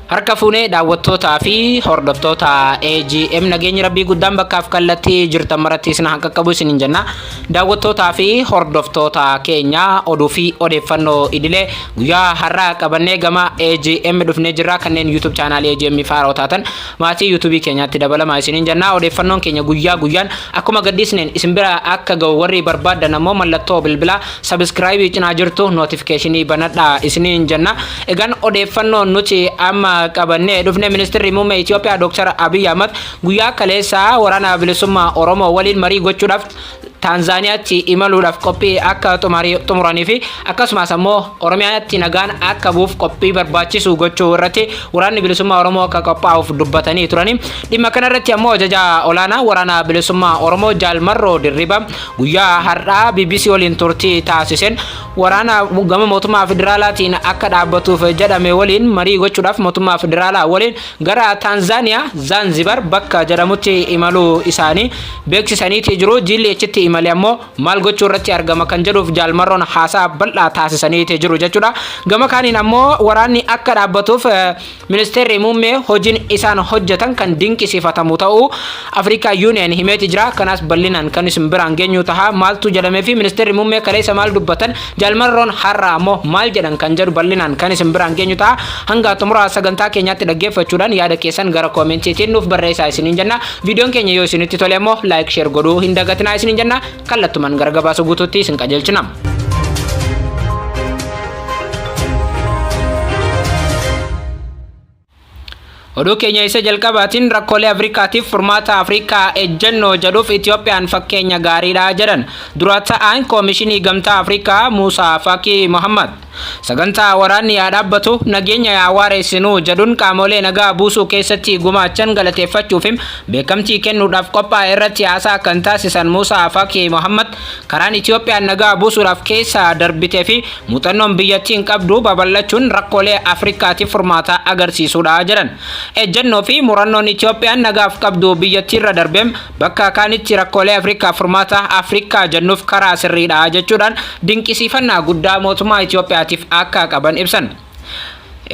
Harka fuunee daawwattootaa fi hordoftoota AGM nageenyi rabbii guddaan bakkaaf kallattii jirtan maratti isin haa qaqqabu isiniin jenna. Daawwattootaa fi hordoftoota keenya oduu fi odeeffannoo idilee guyyaa har'aa qabannee gama AGM dhufnee jirra kanneen YouTube chaanaalii AGM faaraa taatan Maatii YouTube keenyaatti dabalamaa isiniin jennaa odeeffannoon keenya guyyaa guyyaan akkuma gadhiisneen isin bira akka ga'u warri barbaaddan ammoo mallattoo bilbilaa sabiskiraayibii cinaa jirtu nootifikeeshinii banadhaa isiniin jenna. Egaan odeeffannoo nuti amma qabannee dhufne ministirri muummee Itoophiyaa Dr. Abiy Ahmad guyyaa kaleessaa waraana bilisummaa Oromoo waliin marii gochuudhaaf Taanzaaniyaatti imaluudhaaf qophii akka xumuranii fi akkasumas ammoo Oromiyaatti nagaan akka bu'uuf qophii barbaachisu gochuu irratti waraanni bilisummaa Oromoo akka qophaa'uuf dubbatanii turanii dhimma kana irratti ammoo ajajaa olaanaa waraana bilisummaa Oromoo Jaal Marroo Dirribaa guyyaa har'aa BBC waliin turtii taasiseen waraana gama mootummaa federaalaatiin akka dhaabbatuuf jedhame waliin marii gochuudhaaf mootummaa federaalaa waliin gara Taanzaaniyaa Zaanzibar bakka jedhamutti imaluu isaanii beeksisaniitii jiru. Jiilli achitti imale ammoo maal gochuu irratti argama kan jedhuuf jaalmarroon haasaa bal'aa taasisaniitii jiru jechuudha. Gama kaaniin ammoo waraanni akka dhaabbatuuf ministeerri muummee hojiin isaan hojjetan kan dinqisiifatamu ta'uu Africa Union himeeti jira kanaas ballinaan kan isin biraan geenyuu tahaa maaltuu jedhameefi ministeerri muummee kaleessa maal dubbatan jaal marroon har'aa ammoo maal jedhan kan jedhu ballinaan kan isin biraan geenyu taha hangaa xumuraa sagantaa keenyaatti dhaggeeffachuudhaan yaada keessan gara koomentiitiin nuuf barreessaa isiniin jenna viidiyoon keenya yoo isinitti tole ammoo like share godhuu hin dagatinaa isiniin jenna kallattuman gara gabaasa guutuutti isin qajeelchina. Oduu keenya isa jalqabaatiin rakkoolee Afrikaatiif furmaata Afrikaa ejjennoo jedhuuf Itiyoophiyaan fakkeenya gaariidha jedhan dura ta'aan Koomishinii Gamtaa Afrikaa Muusaa Faakii Mohammad. Sagantaa waraanni yaa dhaabbatu nageenya yaa waareessinuu jedhuun qaamolee nagaa buusuu keessatti gumaachan galateeffachuufi beekamtii kennuudhaaf qophaa'e irratti haasaa kan taasisan Muusaa Faakii Mohammad karaan Itiyoophiyaan nagaa buusuudhaaf keessa darbiteefi Muuxannoon biyyattiin qabdu babal'achuun rakkoolee Afrikaatiif furmaataa agarsiisuudha jedhan. Ejjennoo fi murannoon Itoophiyaan nagaaf qabdu biyyattiirra darbeem bakka kaanitti rakkoolee Afrikaaf furmaata Afrikaa jennuuf karaa sirriidha jechuudhaan dinqisiifannaa guddaa mootummaa Itoophiyaatiif akka qaban ibsan.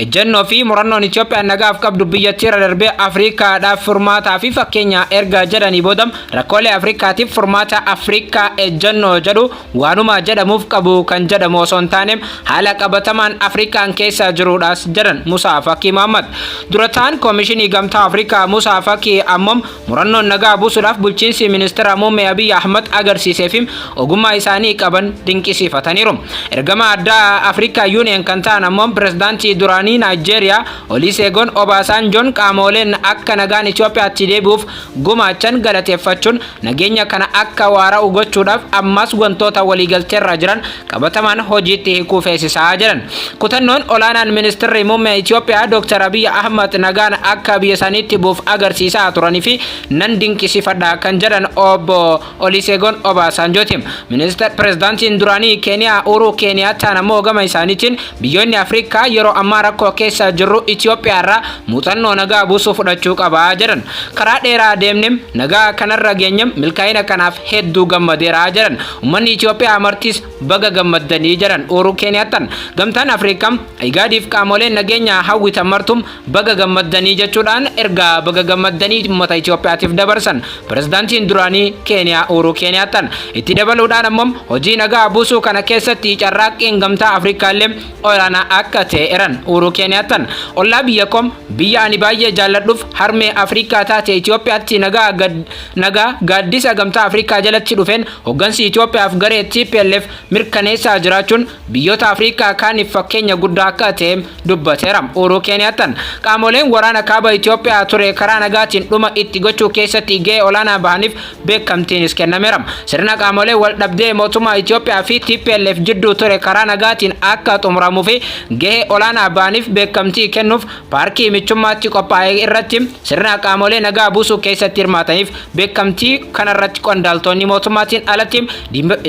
Ejjennoo fi murannoon Itoophiyaan nagaaf qabdu biyyattiirra darbee Afriikaadhaaf furmaataa fi fakkeenya erga jedhanii booda rakkoolee Afriikaatiif furmaata Afriikaa ejjennoo jedhu waanuma jedhamuuf qabu kan jedhamu osoo hin taane haala qabatamaan Afriikaan keessa jiruudhaas jedhan Musaa Fakii Mahammad. Dura ta'an Koomishinii Gamtaa Afriikaa Musaa Fakii ammoo Murannoon nagaa buusudhaaf bulchiinsi Ministira Muummee Abiy Ahmad agarsiiseefi ogummaa isaanii qaban dinqisiifataniiru. Ergamaa addaa Afrikaa Yuuniyen kan ta'an ammoo Pirezidaantii duraanii Naayijeeriyaa Oliiseegon Obaasaanjoon qaamooleen akka nagaan Itoophiyaatti deebi'uuf gumaachan galateeffachuun nageenya kana akka waara'u gochuudhaaf ammaas wantoota waliigalteerraa jiran qabatamaan hojiitti hiikuu feesisaa jedhan. Kutannoon olaanaan ministirri muummee Itoophiyaa Dr. Abiy Ahmad nagaan akka biyya isaaniitti buuf agarsiisaa turanii fi nan dinqisiifadha kan jedhan obbo Oliseegoon Obaasaanjooti. Ministir pirezidaantiin duraanii Keeniyaa Uuruu Keeniyaataan ammoo gama isaaniitiin biyyoonni Afrikaa yeroo ammaa rakkoo keessa jirru Itoophiyaa irraa muuxannoo nagaa buusuu fudhachuu qaba jedhan. Karaa dheeraa deemnem nagaa kanarra geenyem milkaa'ina kanaaf hedduu gammadeera jedhan. Ummanni Itoophiyaa martis baga gammaddanii jedhan Uuruu Keeniyaattan. Gamtaan Afriikaam, Igaadiif qaamoleen nageenyaa hawwitan martum baga gammaddanii jechuudhaan ergaa baga gammaddanii ummata Itoophiyaatiif dabarsan Pirezidaantiin duraanii Keeniyaa Uuruu Keeniyaattan. Itti dabaluudhaan ammoo hojii nagaa buusuu kana keessatti carraaqqiin Gamtaa Afriikaallee olaanaa akka ta'e eran Uuruu Keeniyaattan ollaa biyya kom biyya ani baay'ee jaalladhuf harmee Afrikaa taate Itoophiyaatti nagaa gad nagaa gaaddisa gamtaa Afrikaa jalatti dhufeen hoggansi Itoophiyaaf garee TPLF mirkaneessaa jiraachuun biyyoota Afrikaa kaaniif fakkeenya guddaa akka ta'e dubbateera Uuruu Keeniyaattan qaamoleen waraana kaaba Itoophiyaa ture karaa nagaatiin dhuma itti gochuu keessatti ga'ee olaanaa bahaniif beekamtiinis kennameera. Sirna qaamolee wal dhabdee mootummaa Itoophiyaa fi TPLF jidduu ture karaa nagaatiin akka xumuramuu fi gahee olaanaa ba'aniif beekamtii kennuuf paarkii michummaatti qophaa'e irratti sirna qaamolee nagaa buusuu keessatti hirmaataniif beekamtii kanarratti qondaaltoonni mootummaatiin alatti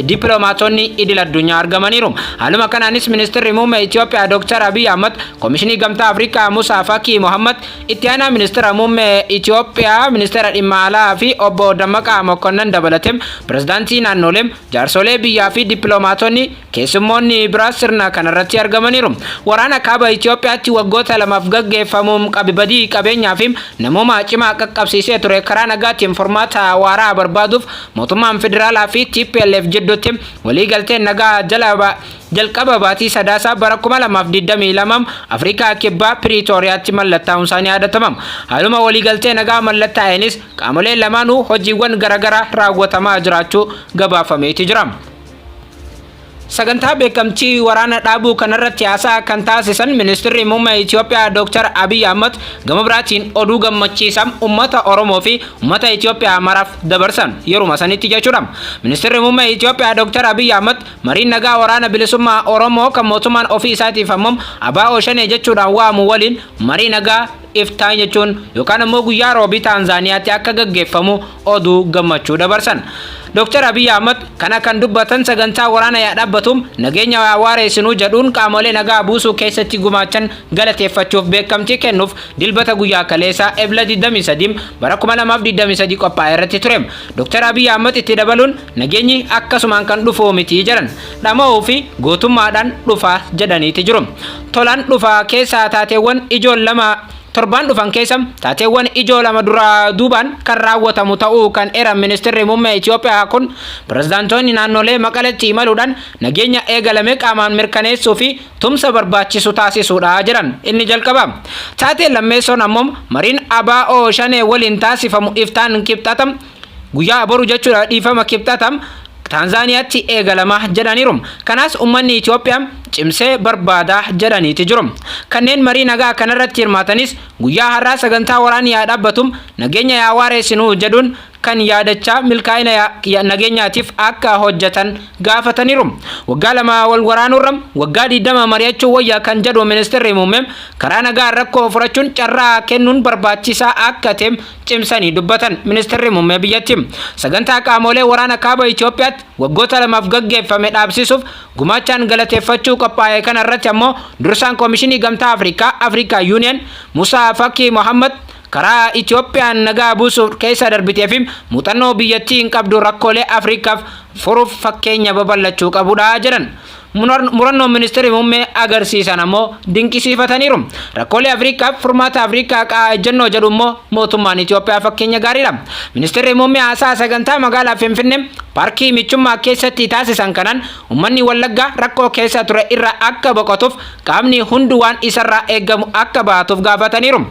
dippiloomaatonni idil addunyaa argamaniiru. Haaluma kanaanis ministirri muummee Itoophiyaa Dr. Abiy Ahmad, Komishinii Gamtaa Afrikaa Musaa Fakii Mohammad, Itti aanaa ministeera muummee Itoophiyaa, ministeera dhimma alaa fi obbo Dammaqaa Mokonnan dabalatee pirezidaantii naannolee, jaarsolee biyyaa fi dippiloomaatonni keessummoonni biraa sirna kanarratti argamaniiru. Waraana kaaba Itoophiyaatti waggoota lamaaf gaggeeffamu qabi badii qabeenyaa fi namoomaa cimaa qaqqabsiisee ture karaa nagaatiin furmaata waaraa barbaaduuf mootummaan federaalaa fi tplf jidduutti waliigalteen nagaa jala Jalqaba baatii Sadaasaa bara 2022 Afrikaa Kibbaa Piriitooriyaatti mallattaa'uunsaa ni yaadatama. Haaluma waliigaltee nagaa mallattaa'eenis qaamoleen lamaanuu hojiiwwan garaagaraa raawwatamaa jiraachuu gabaafameeti jira. Sagantaa beekamtii waraana dhaabuu kanarratti haasaa kan taasisan Ministirri Muummee Itoophiyaa Dooktar Abiy Ahmad gama biraatiin oduu gammachiisaa uummata Oromoo fi uummata Itoophiyaa maraaf dabarsan yeruma sanitti jechuudha. Ministirri Muummee Itoophiyaa Dooktar Abiy Ahmad Mariin nagaa Waraana Bilisummaa Oromoo kan mootummaan ofii isaatiif hammam Abaa'oo Shanee jechuudhaan waamu waliin marii nagaa iftaan jechuun yookaan ammoo guyyaa Roobii Taanzaaniyaatti akka gaggeeffamu oduu gammachuu dabarsan. Dr. Abiy Ahmad kana kan dubbatan sagantaa waraana yaa dhaabbatuum nageenya yaa waareessinuu jedhuun qaamolee nagaa buusuu keessatti gumaachan galateeffachuuf beekamtii kennuuf dilbata guyyaa kaleessaa Ebla 23 bara 2023 qophaa'e irratti ture. Dr. Abiy Ahmad itti dabaluun Nageenyi akkasumaan kan dhufuu miti jedhan. Dhama'uu fi gootummaadhaan dhufa jedhaniiti jiru. Tolaan dhufa keessaa taateewwan ijoon lama Torbaan dhufan keessa taateewwan ijoo lama duraa duubaan kan raawwatamu ta'uu kan eeran Ministirri Muummee Itoophiyaa kun pirezidaantoonni naannolee Maqaletti imaluudhaan nageenya eegalame qaamaan mirkaneessuu fi tumsa barbaachisu taasisuudha jedhan. Inni jalqabaa. Taateen lammeessoon ammoo mariin ABO Shanee waliin taasifamu iftaan Kibxata Guyyaa boru jechuudha dhiifama kibxatam Taanzaaniyaatti eegalama jedhaniiru. Kanas ummanni Itoophiyaa cimsee barbaada jedhaniiti jiru. Kanneen marii nagaa kanarratti hirmaatanis guyyaa har'aa sagantaa waraanni yaa dhaabbatu nageenya yaa waareessinu jedhuun kan yaadachaa milkaa'ina nageenyaatiif akka hojjetan gaafataniiru. Waggaa lama wal waraanuurra waggaa 20 mari'achuu wayya kan jedhu ministeerri muummee karaa nagaan rakkoo furachuun carraa kennuun barbaachisaa akka ta'e cimsanii dubbatan ministirri muummee biyyattii sagantaa qaamoolee waraana kaaba Itoophiyaatti waggoota lamaaf gaggeeffame dhaabsisuuf gumaachaan galateeffachuu qophaa'e kana irratti ammoo dursaan koomishinii gamtaa Afrikaa Afrikaa Yuuniyen Musaa Fakii Mohammad karaa Itoophiyaan nagaa buusuuf keessa darbitee fi muuxannoo biyyattiin qabdu rakkoolee Afrikaaf furuuf fakkeenya babal'achuu qabudha jedhan. murannoon ministeerri muummee agarsiisan ammoo dinqisiifataniiru. Rakkoolee Afriikaaf furmaata Afriikaa qa'aa ejjennoo jedhu immoo mootummaan Itoophiyaa fakkeenya gaariidha. Ministeerri muummee haasaa sagantaa magaalaa Finfinnee paarkii michummaa keessatti taasisan kanaan uummanni Wallaggaa rakkoo keessa ture irraa akka boqotuuf qaamni hundu waan isarraa eegamu akka bahatuuf gaafataniiru.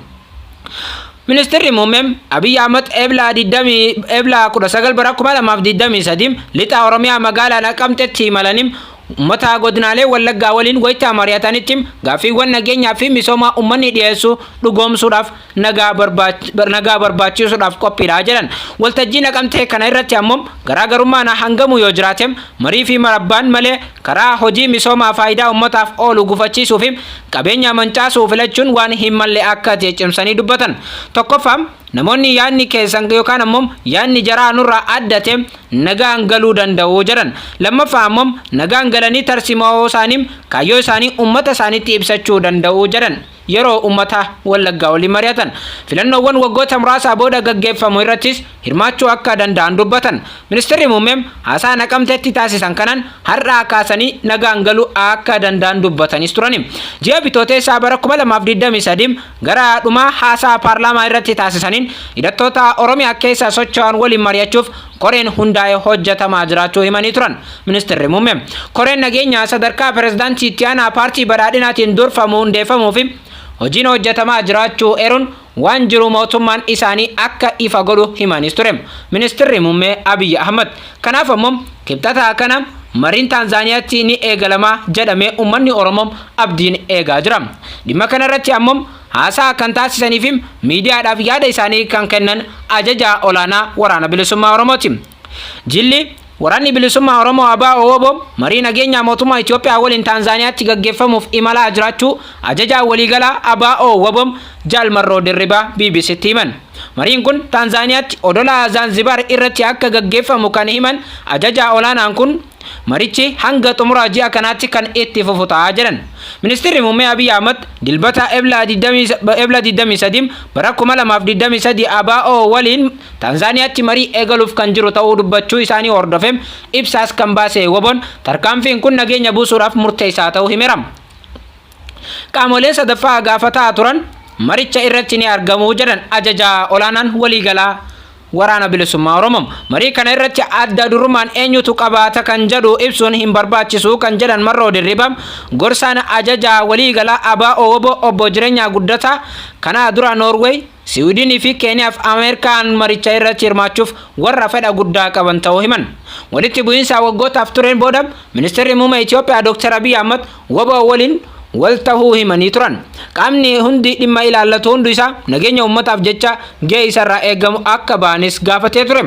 Ministirri Muummee Abiyyi Ahmad Ebla 19 bara 2023 Lixa Oromiyaa magaalaa Naqamtetti imalanii uummata godinaalee Wallaggaa waliin wayita mari'atanitti gaaffiiwwan nageenyaa fi misoomaa uummanni dhiyeessu dhugoomsuudhaaf nagaa barbaachisuudhaaf qophiidha jedhan. Waltajjii Naqamtee kana irratti ammoo garaagarummaan hangamuu yoo jiraate marii fi marabbaan malee Karaa hojii misoomaa faayidaa ummataaf oolu gufachiisuu fi qabeenyaa mancaasuu filachuun waan hin malle akka ta'e cimsanii dubbatan. Tokkoffaa, namoonni yaadni keessan yookaan ammoo yaadni jaraa nurraa adda ta'e nagaan galuu danda'u jedhan. Lammaffaa ammoo nagaan galanii tarsimoo isaanii, kaayyoo isaanii ummata isaaniitti ibsachuu danda'u jedhan. yeroo ummata Wallaggaa waliin mari'atan filannoowwan waggoota muraasaa booda gaggeeffamu irrattis hirmaachuu akka danda'an dubbatan. Ministirri Muummeem haasaa Naqamteetti taasisan kanaan har'aa kaasanii nagaan galuu akka danda'an dubbatanis turani. Ji'a Bitooteessaa bara 2023 gara dhumaa haasaa paarlaamaa irratti taasisaniin hidhattoota Oromiyaa keessa socho'an waliin mari'achuuf koreen hundaa'ee hojjetamaa jiraachuu himanii turan Ministirri Muummee. Koreen nageenyaa sadarkaa Pireezidaantii Itti Aanaa Paartii Badhaadhinaatiin durfamu hundeeffamuu fi hojiin hojjetamaa jiraachuu eeruun waan jiru mootummaan isaanii akka ifa godhu himaniis ture Ministirri Muummee Abiy Ahmad. Kanaaf ammoo Kibxata kana mariin Taanzaaniyaatti ni eegalama jedhamee uummanni Oromoo abdiin eegaa jira. Dhimma kanarratti ammoo haasaa kan taasisaniifi miidiyaadhaaf yaada isaanii kan kennan ajajaa olaanaa waraana bilisummaa Oromooti. Jilli Waraanni Bilisummaa Oromoo Abaa Owoboo marii nageenyaa mootummaa Itoophiyaa waliin Taanzaaniyaatti gaggeeffamuuf imalaa jiraachuu ajajaa waliigalaa Abaa Owoboo Jaal Marroo Dirribaa BBCtti himan. Mariin kun Taanzaaniyaatti odola Zaanzibaar irratti akka gaggeeffamu kan himan ajajaa olaanaan kun Marichi hanga xumura ji'a kanaatti kan itti fufu ta'a jedhan. Ministirri Muummee Abiy Ahmad Dilbata Ebla 23 bara 2023 ABO waliin Taanzaaniyaatti marii eegaluuf kan jiru ta'uu dubbachuu isaanii hordofee ibsaas kan baase WBOn tarkaanfiin kun nageenya buusuudhaaf murteessaa ta'uu himeera. Qaamoleen sadaffaa gaafataa turan maricha irratti ni argamu jedhan ajajaa olaanaan waliigalaa. Waraana Bilisummaa Oromoo. Marii kana irratti adda durummaan eenyutu qabaata kan jedhu ibsuun hin barbaachisu kan jedhan Marroo Dirribaa, gorsaan ajajaa waliigalaa ABO-wbo Obbo Jirenyaa Guddataa, kana dura Noorweey, Siwiidinii fi Keeniyaa fi Ameerikaan maricha irratti hirmaachuuf warra fedha guddaa qaban ta'uu himan. Walitti bu'iinsa waggootaaf tureen booda Ministirri Muumee Itiyoophiyaa Dr. Abiy Ahmad wbo waliin wal tahuu himanii turan. Qaamni hundi dhimma ilaallatu hundu isaa nageenya uummataaf jecha gahee isa irraa eegamu akka bahanis gaafatee ture.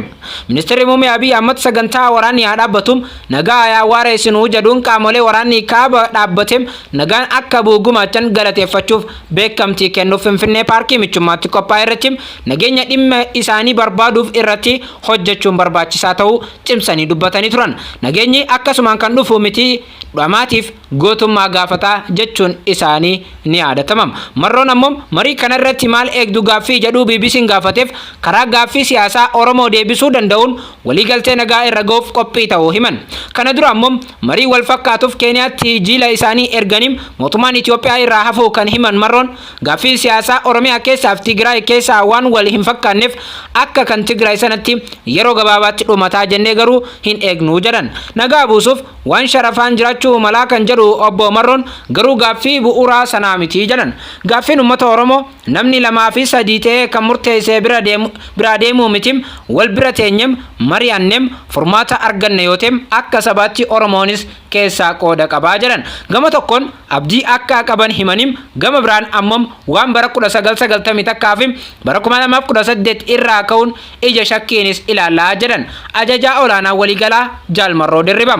Ministirri Muummee Abiy Ahmad sagantaa waraanni haa dhaabbatu, nagaa yaa waareessinu jedhuun qaamolee waraanni kaaba dhaabbate nagaan akka bu'u gumaachan galateeffachuuf beekamtii kennuuf Finfinnee Paarkii Michummaatti qophaa'e irratti nageenya dhimma isaanii barbaaduuf irratti hojjechuun barbaachisaa ta'uu cimsanii dubbatanii turan. Nageenyi akkasumaan kan dhufu miti. dhamaatiif gootummaa gaafata jechuun isaanii ni yaadatama. Marroon ammoo marii kana irratti maal eegdu gaaffii jedhuu BBC'n gaafateef karaa gaaffii siyaasaa Oromoo deebisuu danda'uun waliigaltee nagaa irra ga'uuf qophii ta'uu himan. Kana dura ammoo marii wal fakkaatuuf Keeniyaatti jiila isaanii erganii mootummaan Itoophiyaa irraa hafuu kan himan Marroon, gaaffiin siyaasaa Oromiyaa keessaaf Tigraay keessaa waan wal hin fakkaanneef akka kan Tigraay sanatti yeroo gabaabaatti dhumataa jennee garuu hin eegnu jedhan. Nagaa buusuuf. Waan sharafaan jiraachuu malaa kan jedhu Obbo Marroon garuu gaaffii bu'uuraa sanaa miti jedhan. Gaaffiin ummata Oromoo namni lamaa fi sadii ta'ee kan murteessee bira deemu biraa deemuu mitim wal bira teenyem mari'annem furmaata arganna yoo ta'em akka sabaatti Oromoonis keessaa qooda qabaa jedhan. Gama tokkoon abdii akka qaban himanim gama biraan ammom waan bara 1991 fi bara 2018 irraa ka'uun ija shakkiinis ilaalla jedhan Ajajaa Olaanaa Waliigalaa Jaal Marroo Dirribaa.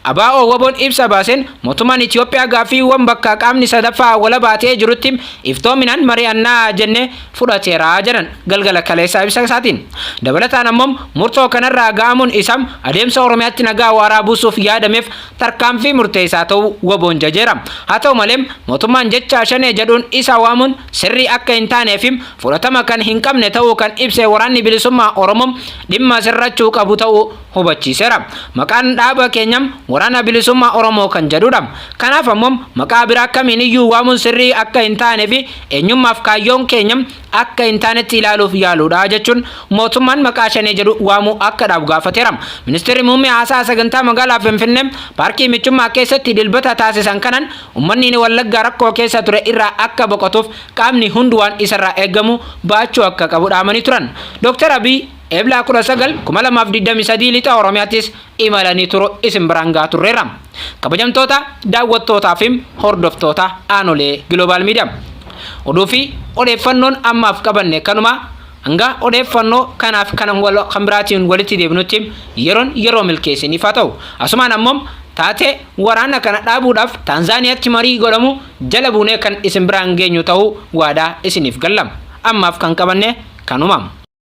Abo wbon ibsa baasen mootummaan Itiyoophiyaa gaaffiiwwan bakka qaamni sadaffaa walabaa ta'ee jirutti iftoominaan mari'anna jenne fudhateera jedhan galgala kaleessaa ibsa isaatiin. Dabalataan ammoo murtoo kanarraa ga'amuun isaa adeemsa Oromiyaatti nagaa waaraa buusuuf yaadameef tarkaanfii murteessaa ta'uu wbon jajeera. Haa ta'u malee mootummaan jecha Shanee jedhuun isa waamuun sirrii akka hin taanee fi fudhatama kan hin qabne ta'uu kan ibse Waraanni Bilisummaa Oromoo dhimma sirrachuu qabu ta'uu hubachiiseera. Maqaan dhaaba keenya Waraana Bilisummaa Oromoo kan jedhudha. Kanaaf ammoo maqaa biraa kamiiniyyuu waamuun sirrii akka hin taanee fi eenyummaaf kaayyoon keenya akka hin taanetti ilaaluuf yaaluudha jechuun mootummaan maqaa shanee jedhu waamuu akka dhaabu gaafateera. Ministeerri Muummee haasaa sagantaa magaalaa Finfinnee paarkii michummaa keessatti dilbata taasisan kanaan Ummanniin Wallaggaa rakkoo keessa ture irraa akka boqotuuf qaamni hundu waan isarraa eegamu ba'achuu akka qabu dhaamanii turan. Dr. Abiy Ebla 19, 2023 Lixa Oromiyaattis imalanii turu isin biraan gahaa turreerra. Kabajamtoota daawwattootaa fi hordoftoota Aanolee Global Media. Oduu fi odeeffannoon ammaaf qabanne kanuma hanga odeeffannoo kanaaf kan kan biraatiin walitti deebinutti yeroon yeroo milkii isiniif haa ta'u. Asumaan ammoo taatee Waraana kana dhaabuudhaaf Taanzaaniyaatti marii godhamu jala buunee kan isin biraan geenyu ta'uu waadaa isiniif galla. Ammaaf kan qabanne kanuma.